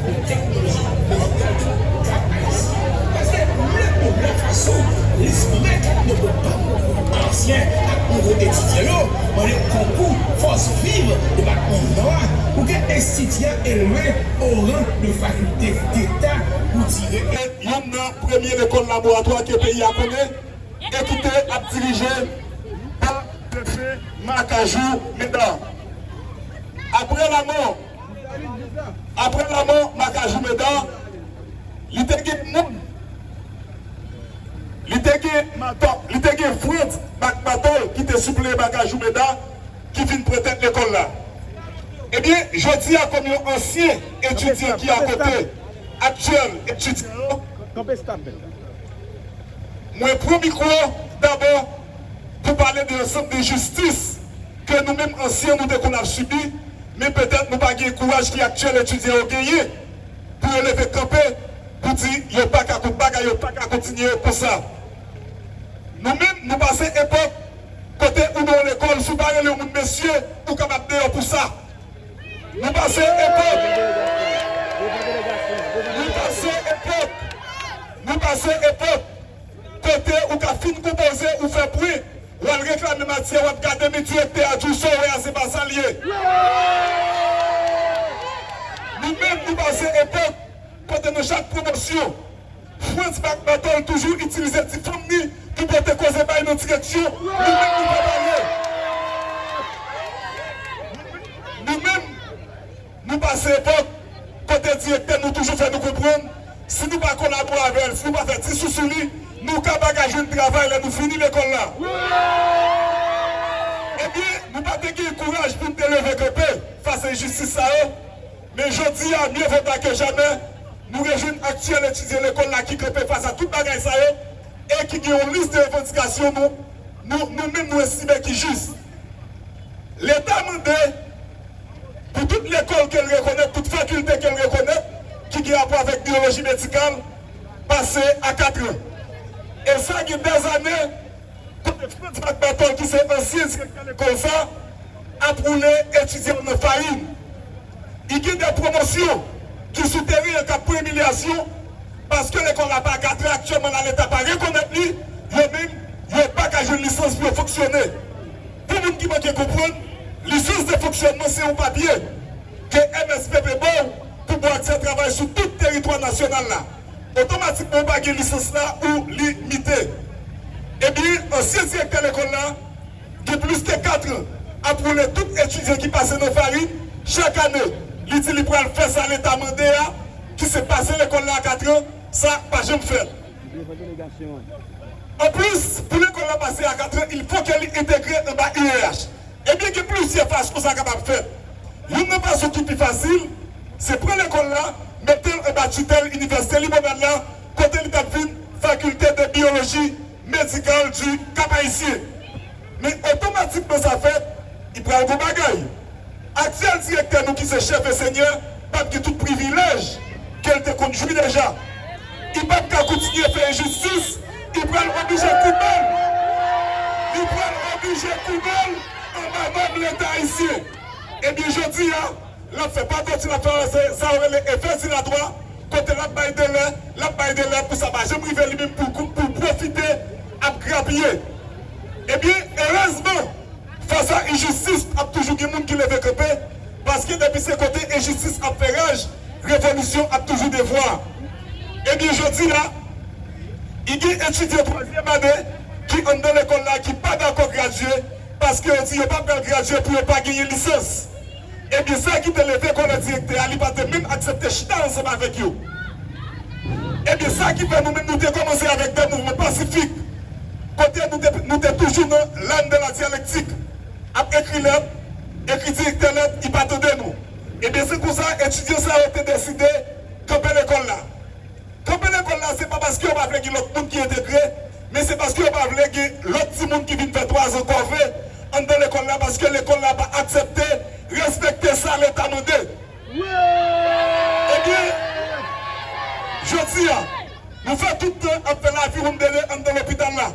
pou teknoloji medikal yo ka Ayisyen pa se mye pou la fason lis mèt nouvo banm Ayisyen ak nouvo etidyan yo mande konkou fòs viv depatman Nò a pou ke enstiti a elve o ran de fakilte deta pou tire e. Youn nan premye lekòl laboratwa ke peyi a konnen e ki te ap dirije pa Defe Makajou Medard. Apre lamò. Apre lanmò Makajou Medard, li te gen moun, li te gen Mantò, li te gen Frantz Mak Mantòl ki te sipleye Makajou Medard ki vin pran tèt lekòl la. Ebyen, jodi a kòm yon ansyen etidyan ki akote aktyèl etidyan yo, mwen pran mikwo dabò pou pale de yon sòt de jistis ke nou menm ansyen nou te konn ap sibi, Men petèt nou pa gen kouraj ki aktyèl etidyan yo genyen pou yo leve kanpe pou di yo pa ka kont bagay yo pa ka kontinye konsa. Nou menm nou pase epòk kote ou nan yon lekòl si w pa rele yon moun mesye ou kapab deyò pou sa. Nou pase epòk Nou pase epòk Nou pase epòk kote ou ka fin konpoze ou fè pwen. Wal reklame matyè wap gade mi direktè a djou so wè a se pa sal ye nou menm nou pase epok kote nan chak pwomosyon frantz bak batol toujou itilize ti fanm ni pou pote koze bay nan direksyon nou menm nou pa pale nou menm. Nou pase epòk kote direktè nou toujou fè nou konprann si nou pa kolabore avè l, si nou pa fè ti sou sou li, nou ka pa ka jwenn travay lè nou fini lekòl la. Ebyen, nou pa te gen kouraj pou n te leve kanpe fas enjistis sa yo, men jodi a, mye vo ta ke jamè, nou rejwenn aktyèl etidyan lekòl la ki kanpe fas a tout bagay sa yo e ki gen yon lis de revandikasyon nou nou menm nou estime ki jis. Leta mande pou tout lekòl ke l rekonèt, tout fakilte ke l rekonèt ki gen rapò avèk byoloji medikal pase a katran. E sa gen dèzane kote Frantz Back Battle ki se ansyen direktè lekòl sa ap woule etidyan nan farin. I gen de pwomosyon ki sou teren an k ap pran imilyasyon paske lekòl la pa akatre aktyèlman la leta pa rekonèt li, yo menm yo pa ka jwenn lisans pou yo fonksyone. Pou moun ki manke konprann, lisans de fonksyònman se yon papye ke MSPP ba w pou ba w aksè travay sou tout teritwa nasyonal la. Otomatikman ou pa gen lisans la ou li mite. Ebyen ansyen direktè lekòl la, gen plis ke katran ap woule tout etidyan ki pase nan farin chak ane. Li di li pral fè sa leta mande a, ki se pase lekòl la a katran, sa pa janm fèt. Anplis, pou lekòl la pase a katran, il fò ke li entegre anba UEH. Ebyen gen plizyè fason sa kapab fèt. Youn nan fason ki pi fasil, se pran lekòl la, mete l anba titèl Inivèsite Limonad la, kote li t ap vin Faculté de Biologie medikal du Kap Ayisyen. Men otomatikman sa fèt, li pral gon bagay. Aktyèl direktè nou ki se chèf ensenyè pap gen tout privilèj ke l te konn jwi deja. Li pap ka koutinye fè enjistis, li pral oblije koupe l, li pral oblije koupe l anba bab Leta Ayisyen. Ebyen jodi a. Lap fè pagoti lap fè ranse sa yo rele efè dilatwa kote lap bay delè lap bay delè pou sa pa janm rive li menm poul poul pwofite ap grapiye ebyen erezman fas a injistis ap toujou gen moun ki leve kanpe paske depi se kote injistis ap fè raj revolisyon ap toujou devwa ebyen jodi a y gen etidyan twazyèm ane ki anndan lekòl la ki pa dakò gradye paske yo di yo pa pral gradye pou yo pa genyen lisans. Ebyen sa ki te leve kòlè direktè a li pa te menm aksepte chita ansanm avèk yo. Ebyen sa ki fè nou menm nou te kòmanse avèk dè mouvman pasifik kote nou te nou te toujou nan l'âne de la dialectique ap ekri lèt, ekri direktè lèt li pa tande nou. Ebyen se konsa etidyan sa yo te deside kanpe lekòl la. Kanpe lekòl la se pa paske yo pa vle gen lòt moun ki entegre, men se paske yo pa vle gen lòt timoun ki vin fè twazan kòve anndan lekòl la paske lekòl la pa aksepte respekte sa leta mande. Ebyen, jodi a, nou fè tout tan ap fè laviwonndele anndan lopital la,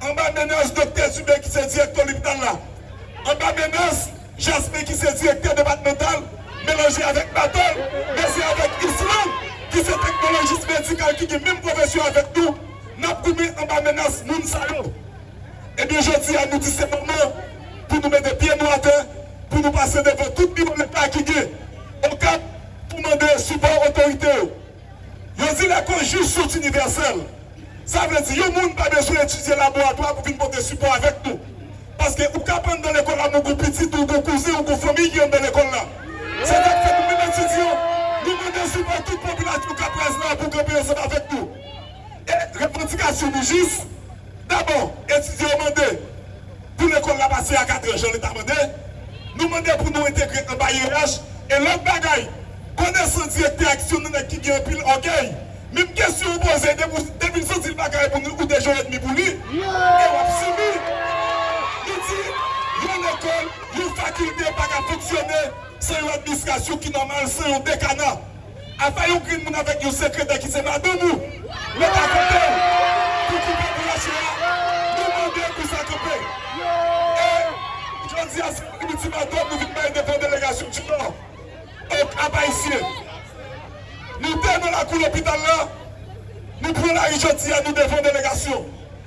anba menas doktè Zube ki se direktè lopital la, anba menas. Jasmin ki se direktè depatmantal melanje avèk batay, men se avèk Yslande ki se teknolojis medikal ki gen menm pwofesyon avèk nou n ap goumen anba menas moun sa yo. Ebyen jodi a nou di se moman pou nou mete pye nou atè, pou nou pase devan tout biwo leta ki gen Okap pou mande sipò otorite yo. Yo di lè Konjus sòt inivèsèl, sa vle di yon moun pa bezwen etidye laboratwa pou vin pote sipò avèk nou. Paske ou k ap anndan lekòl la men ou gon pitit ou, ou gon kouzen, ou gon fanmiy ki anndan lekòl la. Se sak fè nou menm etidyan, nou mande sipò tout popilasyon k ap raz la pou kanpe ansanm avèk nou. E revandikasyon nou jis. Dabò, etidyan yo mande pou lekòl la pase a katran jan leta mande. Nou mande pou nou entegre anba IEH e lòt bagay. Konesan direktè a ki se yon nènèg ki gen anpil ògèy, menm kesyon ou poze depi ou depi l santi l pa ka reponn ou de je edmi pou li e w ap sibi. Nou di yon lekòl, yon fakilte pa ka fonksyone san yon administrasyon ki nòmal, san yon dekana. Apa yon grenn moun avèk yon sekretè ki se madanm ou met a kote w pou koupe boulanchye a, nou mande pou sa kanpe. E jodi a se yon ultimatum nou vin bay devan delegasyon du Nord. Ok apa isye. Nou te nan lakou lopital la, nou pran lari jodi a nou devan delegasyon.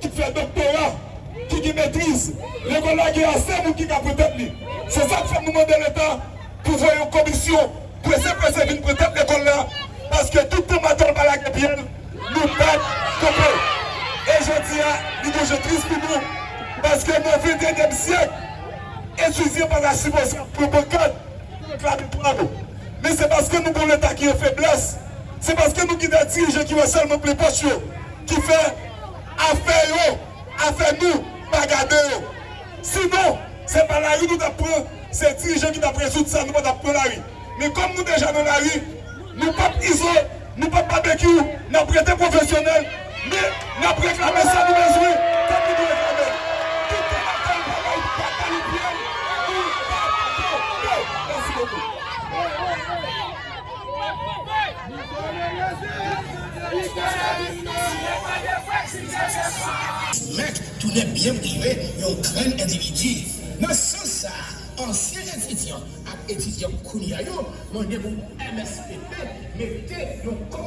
ki fè doktora, ki gen metriz. Lekòl la gen ase moun ki ka pran tèt li. Se sa k fè nou mande Leta pou voye yon komisyon prese prese vin pran tèt lekòl la paske tout tan maton l pa lage pye l, nou p ap kanpe. E jodi a, li gon je tris pou nou paske nan ventennyèm syèk, etidyan pa ta sipoze ap pran pankàt pou reklame dwa nou. Men se paske nou gen yon Leta ki an feblès, se paske nou gen de dirijan ki wè sèlman plen pòch yo. ki fè afè yo afè nou pa gade yo si non se pa lari nou tap pran se dirijan ki tap rezoud sa nou pa tap pran lari men kòm nou deja nan lari nou pap izo nou pap babekyou nap rete pwofesyonèl men nap reklame sa nou bezwen kòm nou dwe reklame l tout tan nap fè l pa bay pataloup pyel nou pa tonbe mèsi bokou. Ti Mèt tounen byen prive yon grenn endividi. Nan sans sa a, ansyen etidyan ak etidyant kounya yo mande pou MSPP mete yon.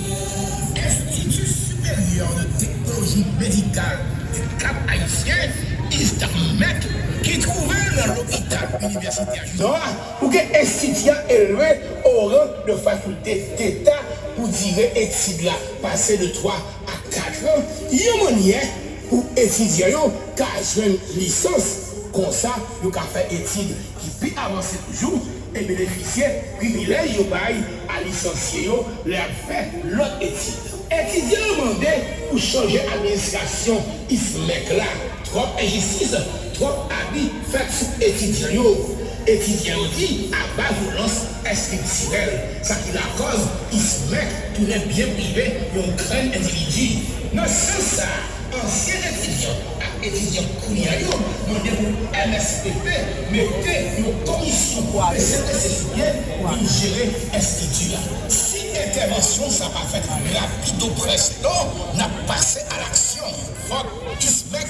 Enstiti Siperyè de Teknoloji Medikal du Cap Haïtien, ISTAMHMEC, ki twouve l nan Lopital Inivèsitè Gisors a, pou ke enstiti a elve o ran de fakilte deta pou dire etid la pase de 3 a 4 an, yon mannyè pou etidyan yo ka jwenn lisans, konsa yo ka fè etid ki pi avanse toujou e benefisye privilèj yo bay a lisansye yo lè y ap fè lòt etid. Etidyan yo mande pou chanje administrasyon ISMEC la, twòp enjistis, twòp abi fèt sou etidyan yo. Etidyan yo di aba vyolans estriktirèl, sa ki lakòz ISMEC tounen byen prive yon grenn endividi. Nan sans sa a, ansyen etidyan ak etidyan kounya yo mande pou mspp mete yon komisyon pou prese prese fouye vin jere enstiti a si entèvansyon sa pa fèt rapido presto nap pase alaksyon fòk ISMEC